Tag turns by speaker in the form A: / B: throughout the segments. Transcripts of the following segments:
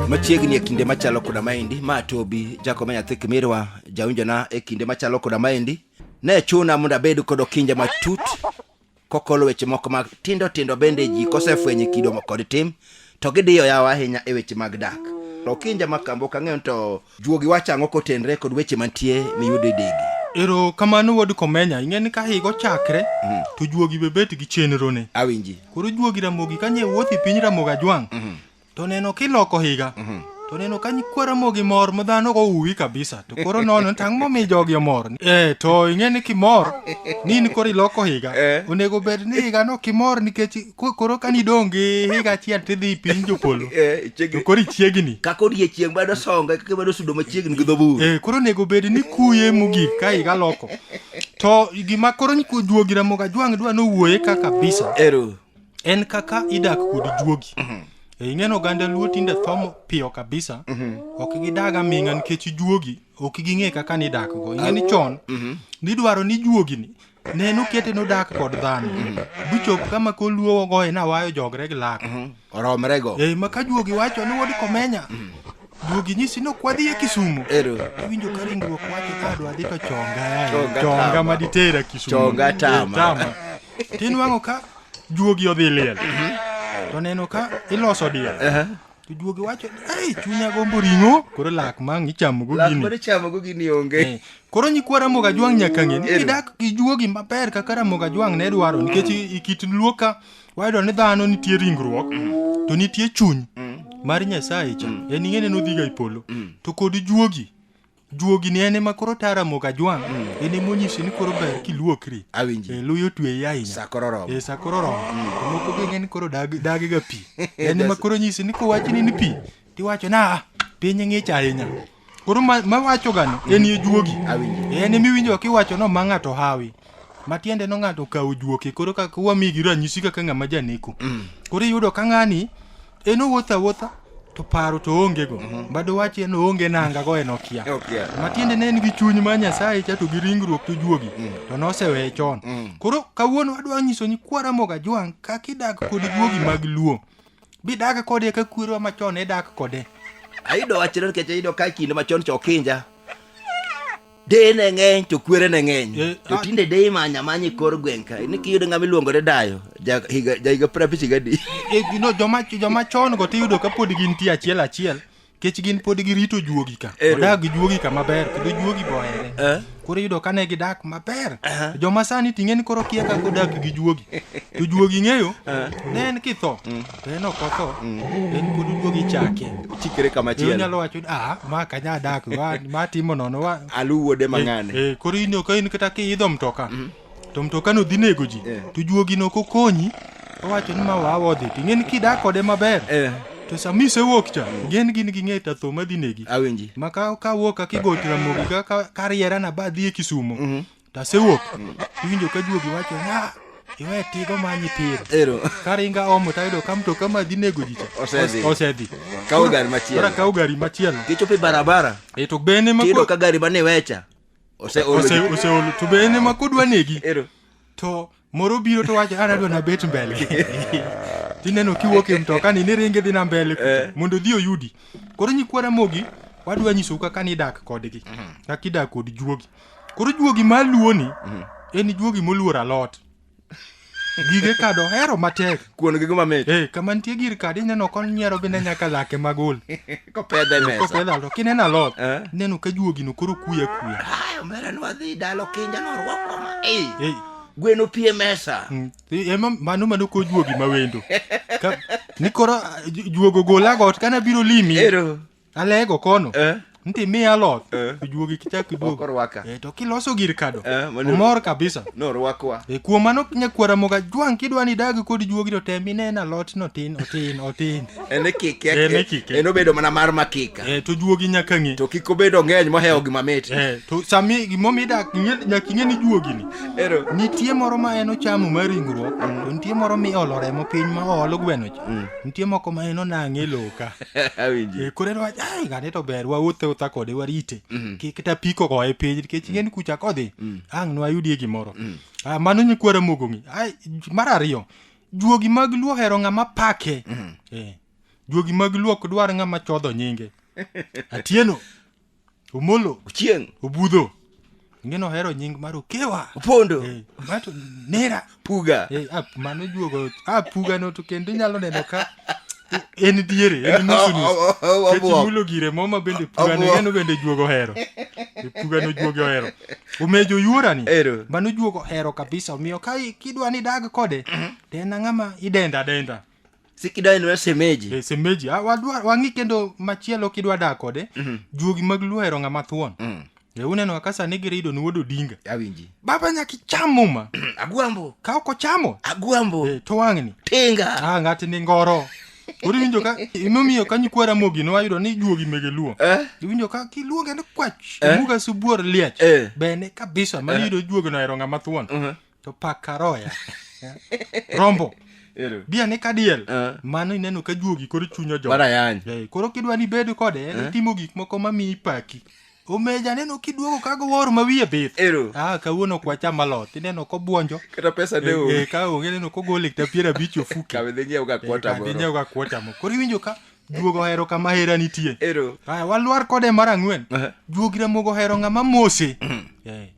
A: machiegni e kinde machalo koda maendi ma tobi jakoma nyathi kimirwa jawinjona e kinde machalo koda maendi ne chuna mondo abed kod okinja matut kokolo weche moko matindo tindo bende ji kosefwenye kido kod tim to gidiyo yawa ahinya e weche mag dak to kinja makambo ok ang'eyo ni to juogi wacho ang'o kotenre kod weche mantie miyudo e degi ero kamano
B: wuod komenya ing'e ni ka higa ochakre to juogi be bet gi chenrone awinji koro juogi
A: ramogi
B: ka nye wuoth e piny ramogi ajwang' to neno kiloko higa to neno ka nyikwa ramogi mor ma dhano ok ouwi kabisa to koro nono ni tang' momi jogi omor eh to ing'e ni kimor ni in koro iloko higa Eh. onego bed ni higano kimor nikech Ko- koro ka nidong' gi higa achiel tidhi piny jopolo Eh, chiegni- to koro ichiegni kaka odiechieng' bado
A: songa kaka bado sudo machiegni gi dhoburu Eh, koro onego bed ni
B: kuye mogik ka higa loko to gima koro nyi- juogi ramoga jwang' dwa nowuoye ka kabisa ero en kaka idak kod juogi Eh, ing'eno oganda luo tinde thomo piyo kabisa ok gidag aming'a nikech juogi ok ging'e kaka nidakgo ing'e ni chon nidwaro ni juogini ne nokete nodak kod dhano bichop mhm. kama koluo ogoye nawayo jogre gi lak mhm. oromrego e
A: ma ka juogi wacho
B: ni wod komenya mhm. duogi nyisi ni okwadhi e kisumu iwinjo ka ringruok wacho ka adwa dhi to chonga chonga ma ditera kisumu chonga tama
A: e, tinwang'o
B: ka juogi odhi liel to neno ka iloso diel Jojuoge wacho ni, "Ei, chunya gombo ring'o." Koro lak ma ang' ichamogo Lak gini. mane ichamogo gini onge.
A: Eh, Koro nyikwa Ramogi
B: Ajwang' nyaka ng'e ni Ero. kidak gi juogi maber kaka Ramogi Ajwang' ne dwaro nikech i- i kit luo ka wayudo ni dhano nitie ringruok to nitie chuny mar Nyasaye cha. En ing'e ni nodhiga e polo. To kod juogi juogi ni en ema koro tara mogo ajwang' mm. en ema onyisi ni koro ber kiluokri awinji e, luyo
A: tweyi ahinya
B: sa koro oromo e, sa koro
A: oromo mm. to
B: moko be ng'eny koro dagi ga pi en ema koro onyisi ni kowachni ni pi tiwacho na ah, piny ng'ich ahinya koro mawacho gani en ye juogi en emiwinjo
A: kiwacho
B: no ma ng'ato hawi matiende no ng'ato okawo juoke koro kaka wamigi ranyisi kaka ng'ama janeko mm. koro iyudo ka ng'ani en owuotho awuotha to paro to onge go mhm. bado wach en onge nanga go en okia matiende ne en gi chuny ma nyasaye cha to gi ringruok to juogi mm. to noseweye chon mm. koro kawuono adwa nyiso ni kwaramoga jwang' kaka idak kod juogi mag luo bidak kode ka kwerwa machon idak kode ayudo wachno
A: nikech ayudo ka kinde machon chokinja deye ne ng'eny to kwere ne ng'eny Eh, to ah. tinde deye manya manya e kor gweng' ka ni kiyudo ng'ama iluongo ni dayo ja higa ja higa piero abich gadi E, you know, joma
B: joma chon go tiyudo ka pod gintie achiel achiel kech gin pod girito juogi ka Ero. odag gi juogi ka maber kendo juogi bohere Eh. koro iyudo ka ne gidak maber Aha. joma sani ting'e ni koro kia kaka odak gi juogi to juogi ng'eyo ne en kitho to en ok otho en pod oduogi chake chikre kama chielo
A: inyalo wacho ni ah ma
B: kanya dak wa ma timo nono wa alu wuode mang'ane
A: eh, eh, koro in ok in kata
B: kiidho mtoka mm. to mtoka no dhi nego ji eh. to juogi no kokonyi owacho ni ma wawa odhi to ing'eni kidak kode maber eh. to sama isewuok cha mm. gen gin gi ng'eta tho madhi negi awinji ma ka ka
A: wuok ka
B: kigo tiramogi ka ka riera na ba dhi e kisumo mm -hmm. To asewuok. Iwinjo ka juogi wacho ni "Ah, iwe tigo ma nyipiro. Ero. Karinga omo tayudo ka mtoka ma dhi nego ji cha. Osedhi. Osedhi. Kawo gari machielo.
A: Koro akawo gari machielo. Kichopo e barabara. E to bene ma Tiyudo
B: ka gari mane iwecha.
A: Ose ose
B: oseolo to bene ma kodwa negi. Ero. To moro biro to wacho an adwa nabet mbele tineno kiwuok e mtokani ni ringe dhi na mbele eh. mondo odhi oyudi koro nyikwa ramogi wadwa nyisou kaka nidak kodgi mhm. kaka idak kod juogi koro juogi maluwoni mhm. en juogi moluor alot gige kado hero matek kuon gi gima mit eh
A: kama nitie gir kadi
B: ineno kon nyiero bende nyaka lake magol kopedhe e mesa
A: kopedhe alot kineno alot
B: eh? ineno ka juogino koro kuya kuya ay omera nwadhi
A: dalo kinja norwako ma eh, eh. gweno pie mesa mm, ema mano
B: mano ko juogi mawendo ni koro eh, juogo gola got kana biro limi Alego kono. Eh. Nti mi aloth. Eh. Ijuogi kichak iduog. Okorwaka. Eh, to kiloso gir kado. Eh, mano. Omor kabisa. No rwakwa. E
A: kuom mano nyakwara
B: moga jwang kidwa ni dag kod juogi to tem inena alot no tin otin otin. Ene
A: kike. Ene kike. Eno bedo mana mar makika. Eh, to juogi nyaka ng'e.
B: To kiko bedo ng'eny
A: mohewo gima mit. Eh, to sami
B: gimomi idak nyaka ing'e ni juogi ni. Ero. Nitie moro ma en ochamo mar ringruok. Mm. To nitie moro mi olo remo piny ma olo gweno cha. Mm. Nitie moko ma en onang'e loka. Awinji. Eh, koro
A: en wach ai ng'ane
B: to ber wawuothe utha kode warite kik ta piko koa e piny nikech ng'en kucha kodhi ang' nwayudie gimoro Ah, mano nyikwara mogong'i ai j- mar ariyo juogi mag luo hero ng'ama pake Eh, juogi mag luo ok dwar ng'ama chodho nyinge atieno omolo ochieng
A: obudho
B: ngeno ohero nying mar okewa opondo Eh,
A: mato
B: nera puga Eh, ah,
A: mano juogo
B: ah, puga no to kendo inyalo neno ka en diere en nusu nusu O- o- o- Nikech obuok. imulo gire moma bende puga no Obuok. ngeno bende juogo ohero Eh, puga no juogo ohero omejo yuorani Ero. mano juogo ohero kabisa omiyo ka i- kidwa ni dag kode to en ang'ama idenda denda sikidwa en
A: wer semeji e semeji ah, wadwa-
B: wang'i kendo machielo kidwa dak kode juogi mag luo hero ng'ama thuon Mm. e uneno kaka sani girido ni wuod odinga awinji baba nyaka
A: icham
B: muma agwambo ka ok
A: ochamo
B: agwambo e, to
A: wang'ni
B: tinga ah, ng'ati
A: ni ngoro
B: koro iwinjo ka imomiyo ka nyikwa ramogi ne wayudo ni juogi mege luo Eh? iwinjo ka kiluonge ni kwach Eh? omuga subuor liech Eh. bene kabisa ma iyudo juogi no hero ng'ama thuon Mhm. to pak karoya rombo Ero. bia ni kadiel Eh. mano ineno ka juogi koro chunyo jo Bana yany. Eh, koro kidwa
A: ni bed
B: kode en timo gik moko ma miyi paki omeja neno kiduogo kago wor ma wiye bith Ero. ah kawuono kwa chama lot ineno kobuonjo Kata pesa ne Eh, o. eh,
A: ka onge neno kogole
B: kta piero abich ofuki Kabe dhi nyiew ga kwota
A: moro. nyiew ga kuota mo koro
B: iwinjo ka juogo ohero kama hera nitie Ero. aya walwar kode mar ang'wen Eh. juogi ramogo ohero ng'ama mose Eh,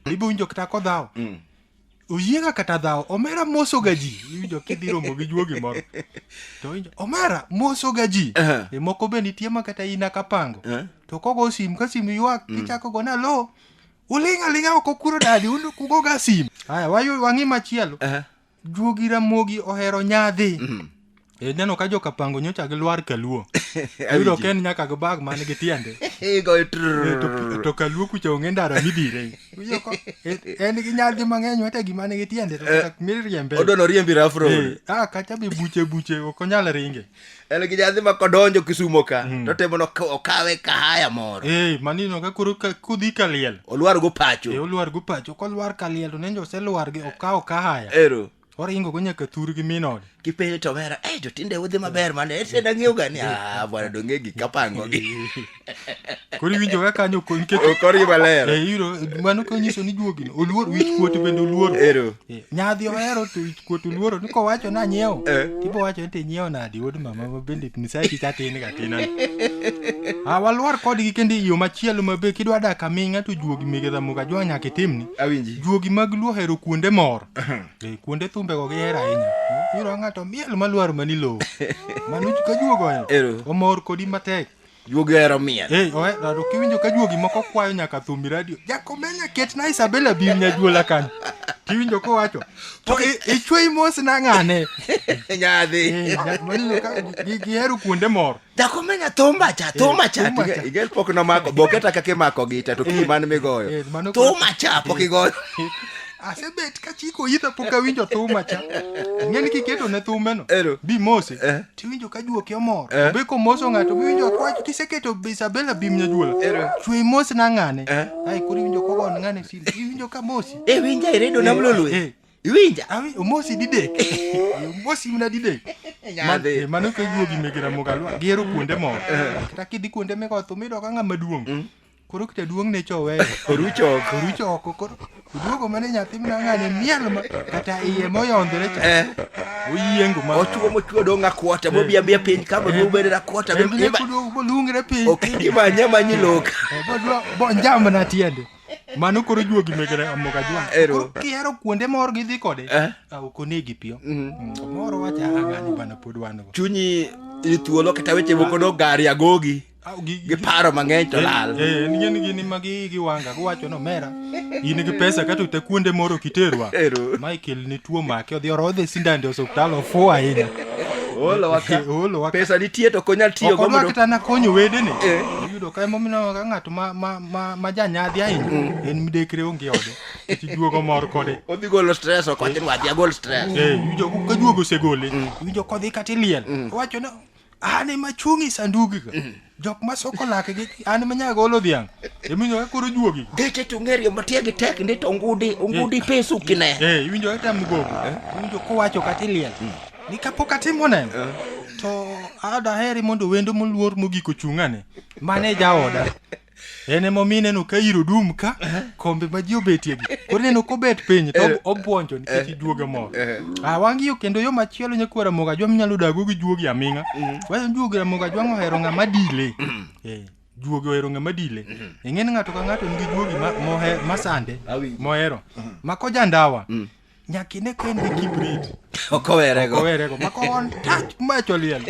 B: ibo winjo kata kodhawo mm. oyiega kata dhawo omera mosoga ji iwinjo kidhi romo gi juogi moro to winjo omera mosoga ji uh -huh. e moko be nitie ma kata ina kapango uh -huh. to kogo sim ka sim ywak mm. kichako go nalo uling' aling'a oko kuro dadi kugoga sim haya wang'i machielo uh -huh. juogi ramogi ohero nyadhi mm. e, neno ka joka pango nyocha gi lwar kaluo ayudo ka en nyaka gi bag man gi tiende e, to kaluo kucha onge ndara midire e, en gi nyadhi mang'eny wete gima nigi tiende to miriembe odono riembi rafro
A: a kacha be
B: buche buche ok onyal ringe en gi jadhi ma
A: kodonjo kisumo ka mm. to temo no okawe ka haya moro eh manino ka kuru
B: ka kudhi ka liel olwar go pacho eh
A: olwar go pacho ko
B: lwar ka liel to nenjo se lwar gi okawo ka haya ero oringo go nyaka thur gi minod kipenjo to mera eh
A: jotinde udhi maber mane ese na ng'eyo gani ah bwana donge gi kapango gi
B: koro iwinjo ka kanyo ko- nikech okori maler Eh,
A: iro mano ka
B: nyiso ni juogi no oluor wich kuot bende oluoro ero Eh, nyadhi ohero to wich kuot oluoro ni kowacho na nyiewo Eh. ibo wacho ni to inyiewo nadi wuod mama ma bende nyisaye kik atin ga tin a walwar kodgi kendo e yo machielo ma be kidwa dak aming'a to juogi mege dhamuga jwa nyaka itimni awinji juogi mag
A: luo hero
B: kuonde mor Eh, kuonde thumbego gihero ahinya Eh, iro ng'ato miel malwar mani lowo mano ka juogo Ero. omor kodi matek Juogi ohero miel.
A: Hey, oe, rado kiwinjo ka
B: juogi moko kwayo nyaka thumbi radio. Jakomenya ket na Isabella bir nyajuola kanyo. Kiwinjo kowacho. To i- ichwei mos na ng'ane. Nyadhi. Eh,
A: ja- maneno ka
B: gi- gihero kuonde moro. Jakomenya thumba
A: cha, thumba cha. thumba cha. Igel pok nomako, boke ta kaka imako gita to kii man migoyo. eh, mano koro- Thumba cha pok igoyo. Asebet
B: ka chiko itha pok awinjo thuma cha. Ng'eni kiketo ne thumeno. Ero. Bi mose. Eh. tiwinjo ka juoki omor Eh. be komoso ng'ato biwinjo kwacho kiseketo be isabela bim nyajuola Ero. chwe mos na ng'ane Eh. ai koro iwinjo kogon ng'ane sili iwinjo ka mosi Eh, winja iredo nam Eh,
A: lolwe. eh. Iwinja. awi omosi didek
B: omosi mna didek Nyadhi. Eh, mano ka juogi megera mogalwa gihero kuonde moko kata kidhi kuonde mikoth umido ka ng'ama duong' Koro jaduong' ne choweyo. Orucho oko. Orucho oko koro oduogo mane nyathi mna ng'ane miel ma kata iye moyondore cha. Eh. Oyiengo ma. Otuo motuo dong' akwota
A: bobi eh. abia piny ka eh. boduogo bende akwota. Eh, bende kuduogo bolungre piny.
B: Okingi manya manyi
A: lok. Bodwa bonjam
B: na tiende. Mano koro juogi mekere amoga jwa. Ero. Kihero kuonde mor gidhi kode. Eh. Ah, ok onegi piyo. Mhm. Mm, moro wacha ang'ani bana pod wan go. Chunyi ithuolo
A: kata weche moko dog gari agogi. Au, gi- gi- giparo mang'eny to lal Eh, en gini gini ma gi
B: gi wanga giwacho ni omera in gi pesa kata ute kuonde moro kiterwa Ero. ma ikelni tuo make odhi orodhe sindande e osiptal ofuwo ahinya olo waka Eh, olo waka. pesa nitie
A: to konyal tiyo go okorwa mondo kata nakonyo wedene
B: Eh. iyudo ka emomiyo ka ng'ato ma- ma- ma- ma janyadhi ahinya en midekre onge ode kech juogo mor kode odhi golo stress ok
A: wachin wadhi agol stress Eh, iwinjo ka juogo
B: osegole iwinjo kodhi kata iliel owacho ni an ema achung' e sandugiga jok ma soko lakgi an ema nyaka golo dhiang' iwinjo ka koro juogi Geche to ng'erie matie
A: gi tek ndi to ngudi ngudi pesu kine. eh iwinjo ka tam gogo
B: iwinjo kowacho kata iliel ni kapok atimo neno to adaheri mondo wendo moluor mogik ochung'ane mane jaoda en ema omi ineno ka iro dum ka kombe ma ji obetie gi koro ineno kobet piny to ob- obwonjo nikech ijuoge moro ah wangi yo kendo yo machielo nyakuo ramoga jwa minyalo dago gi juogi aming'a wacho ni juogi ramoga jwang' ohero ng'ama dile Eh, juogi ohero ng'ama dile ing'e ni ng'ato ka ng'ato nigi juogi ma- mohe- masande Awinjo. mohero ma kojandawa Nyaki ne ka en gi kibrit. Ok owerego. Ok owerego. Mako on touch macho liel.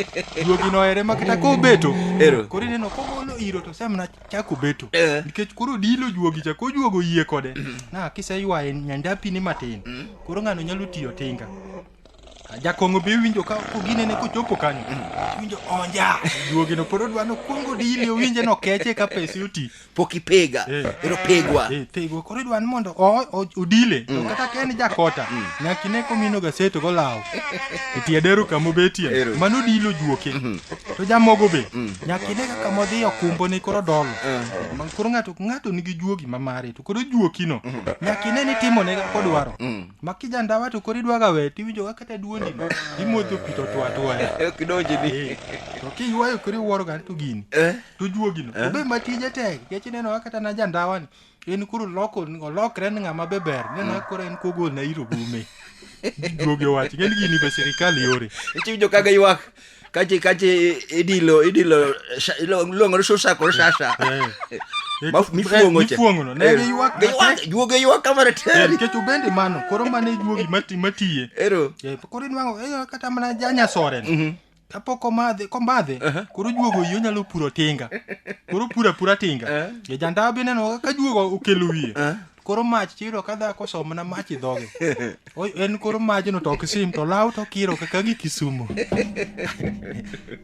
B: Duogi no ere makata ko beto. Ero. Koro ineno ko golo iro to sem na chako beto. Eh. Nikech koro dilo juogi cha ko juogo yie kode. Mm. Na kise ywaye nyandapi ni matin. Mm. Koro ng'ano nyalo tiyo tinga. Jakong'o be winjo ka koginene kochopo kanyo. Mm. Winjo onja. Duogi no pod odwano kuongo dili owinje no keche ka pesi oti. pok ipega Eh.
A: ero pegwa Eh, pigwa koro idwa ni mondo o-
B: o- odile to kata ka en jakota nyaka ine komino gaseto golawo e tie dero kama obetie Ero. mano odilo juoke to jamogo be nyaka ine kaka modhi okumbo ni koro dolo Ma- koro ng'ato ng'ato nigi juogi ma mare to koro juokino nyaka ine ni timone kaka kodwaro ma kijandawa to koro idwaga we tiwinjo kaka kata duondino imodho pi to twatwaya kidonjini
A: to kiywayo
B: koro iwuoro gani to gini Eh. to juogi no Eh? obe ma tije tek nikech ineno kaka kata na jandawa ni en koro loko olokre ni ng'ama be ber ineno kaka koro en kogol na iro gume juogi owacho ng'eni gini be sirikal yore ichiwinjo kaga ywak
A: kache kache idilo idilo sha- ilo- iluongo ni susa kod shasha Eh. Maf- mifuong'o cha.
B: mifuong'ono ne Eh, giywak giywak- matek. juogi ywak
A: kamano Eh, tere nikech obende mano
B: koro mane juogi mati- matiye ero Eh, koro inwang'o eh, kata mana janyasoren kapok omadhe komadhe uh-huh. koro juogo yo nyalo puro tinga koro pura pura tinga uh-huh. Eh. jajandawa be neno ka juogo okelo wiye uh-huh. koro mach chiro ka dhako somna mach i dhoge en koro majno to ok sim to law to kiro kaka gi kisumo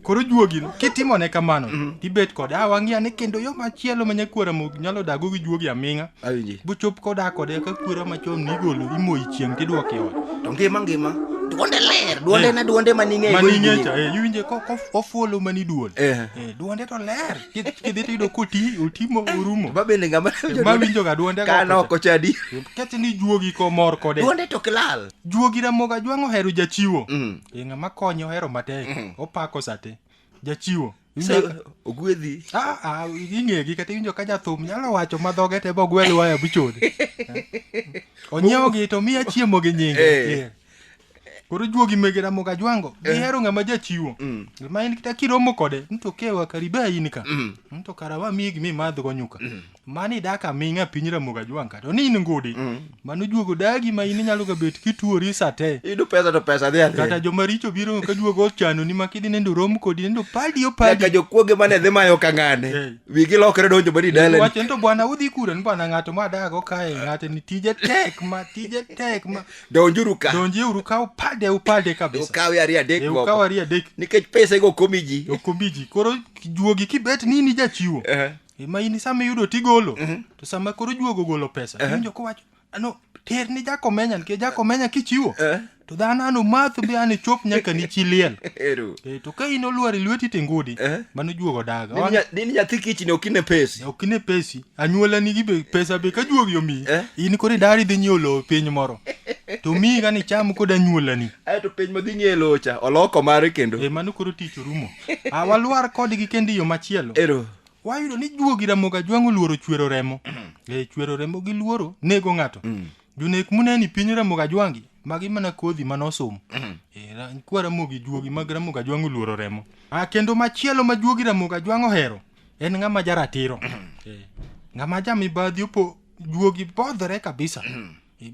B: koro juogi kitimone kamano mm-hmm. tibet kode a ah, wang'iya ni kendo yo machielo ma nyakuora nyalo dago gi juogi aming'a awinji bochop koda kode ka kwera machon nigolo imoyi chieng' tidwok e ot to ngima ngima
A: duonde ler duonde na duonde maning'eyo maning'echa
B: eh, iwinje kofuolo mani duol eh. eh, duonde to ler kidhi tiyudo koti otimo orumo ba bende ngama
A: mawinjo ga duonde
B: kano oko chadi
A: kete ni juogi
B: komor kode duonde to kilal
A: juogi ramoga jwang'
B: ohero jachiwo mm. ng'ama konye ohero matek mm. opako sate jachiwo
A: ogwedhi
B: ing'egi kata iwinjo ka jathum nyalo wacho ma dhoge te bogwel waya buchode onyiewogi to miya chiemo gi nyinge eh. eh. koro juogi megera moga jwango eh. gihero ng'ama jachiwo mm. ma in kita kiromo kode nto kewa kariba in ka nto mm. kara wamiyi gimi madhgo nyuka mm. mani dak aming'a piny ramoga jwang' kata ni in ngudi mm. mano juogo dagi ma in inyalo ga bet kituori sate idu pesa to pesa dhi
A: adhi kata joma richo biro
B: ka juogo ochano ni makidhi nendo rom kodi nendo padi o padi ka jokuoge mane
A: dhi mayo ka ng'ane hey. wigi lokre donjo badi dalen wacho nito bwana udhi kura
B: ni bwana ng'ato ma dago kae ng'ate ni tije tek ma tije tek ma
A: donjuru ka donji uru ka upade
B: upade kabisa ukawi ari adek moko
A: ukawi ari adek nikech pesa go
B: komiji
A: okomiji koro
B: juogi kibet nini jachiwo uh -huh. E, ma in sama iyudo tigolo to sama koro juogo golo pesa iwinjo kowacho ano ter ni jakomenya nikech jakomenya kichiwo Eh. to dhano ano math be an ichop nyaka ni chi liel Ero. e, to ka in olwar e lweti tingudi Eh. mano juogo daga Dini Wan- nya- Dini nyathi kichni
A: ok ine pesi. ok ine pesi
B: anyuola nigi be pesa be ka juogi omiyi Eh. in koro idari dhi nyiewo lowo piny moro to miyi gani cham kod anyuolani Aeto piny ma dhi ng'e
A: locha oloko mare kendo. e mano koro tich orumo
B: Ah, walwar kodgi kendo e yo machielo ero wayudo ni juogi ramogi ajwang' oluoro chwero remo e chwero remo gi luoro nego ng'ato jonek muneni piny ramogi ajwangi magi mana kodhi mana osomo e, ra- kwa ramogi juogi mag ramogi ajwang' oluoro remo ah, kendo machielo ma juogi ramogi ajwang' ohero en ng'ama jaratiro e, ng'ama jamibadhi opo juogi bodhore kabisa E,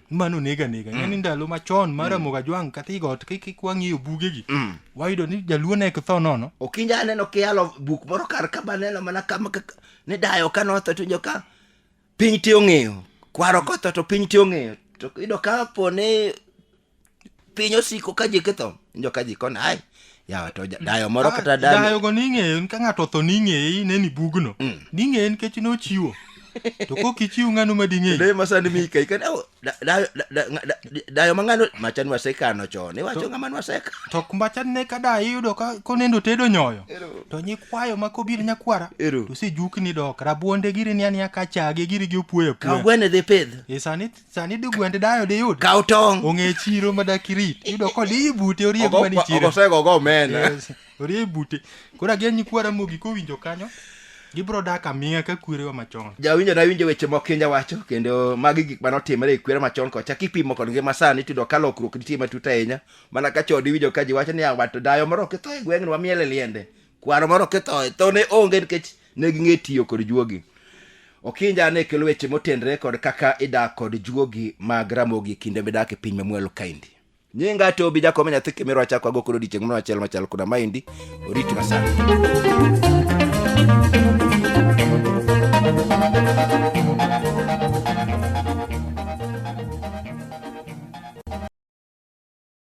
B: mano nega nega ing'e ni ndalo machon mar Ramogi Ajwang' kata igot kik kik wang'iyo bugegi wayudo ni jaluo ne ok tho nono okinja aneno kiyalo
A: buk moro kar ka baneno mana kama kaka ni dayo ka notho to joka piny te ong'eyo kwaro kotho to piny te ong'eyo to iyudo ka po ni piny osiko ka ji kitho injo ka ji koni ai yawa to ja- dayo moro Ah, kata dani dayogo ning'eyo
B: ka ng'ato otho ning'eye ineni bugno ning'eye nikech nochiwo to kok ichiw ng'ano ma ding'eyi Dai ma sani mi kai kan
A: au da- da- da- da- da- dayo mangano machan wasekano chon iwacho ng'ama nwaseka to kumbacha ne
B: ka da iyudo ka konendo tedo nyoyo to nyikwayo ma kobiro nyakwara Ero. to sijukni dok rabuonde giri ni aniya ka chage giri gi opwoyo ka apwoya gwene dhi pidh
A: e sani sani di
B: gwend dayo diyud kaw tong ong'e chiro
A: ma dak
B: irit yudo kod iyi bute oriek Ogo- mani chiro ogosego ogo omena
A: Yes, oriek bute
B: koro agen nyikwa ramogi kowinjo kanyo gibro dak aming'a ka kwerewa machon jawinjo nawinjo weche
A: moko kinja wacho kendo magi gik mane otimore e kwere machon kocha kipimo kod ngima sani tiyudo ka lokruok nitie matut ahinya mana ka chon iwinjo ka ji wacho ni "Ah, wato dayo moro kitho e gweng'ni wamiele liende kwaro moro kithoe tho ne onge nikech ne ging'e tiyo kod juogi okinja ne kelo weche motenre kod kaka idak kod juogi mag ramogi kinde midak e piny mamwalo kaindi nyinga to obi jakome nyathi kimiro achako ago kod odiechieng' moro achiel machal koda maendi oriti masani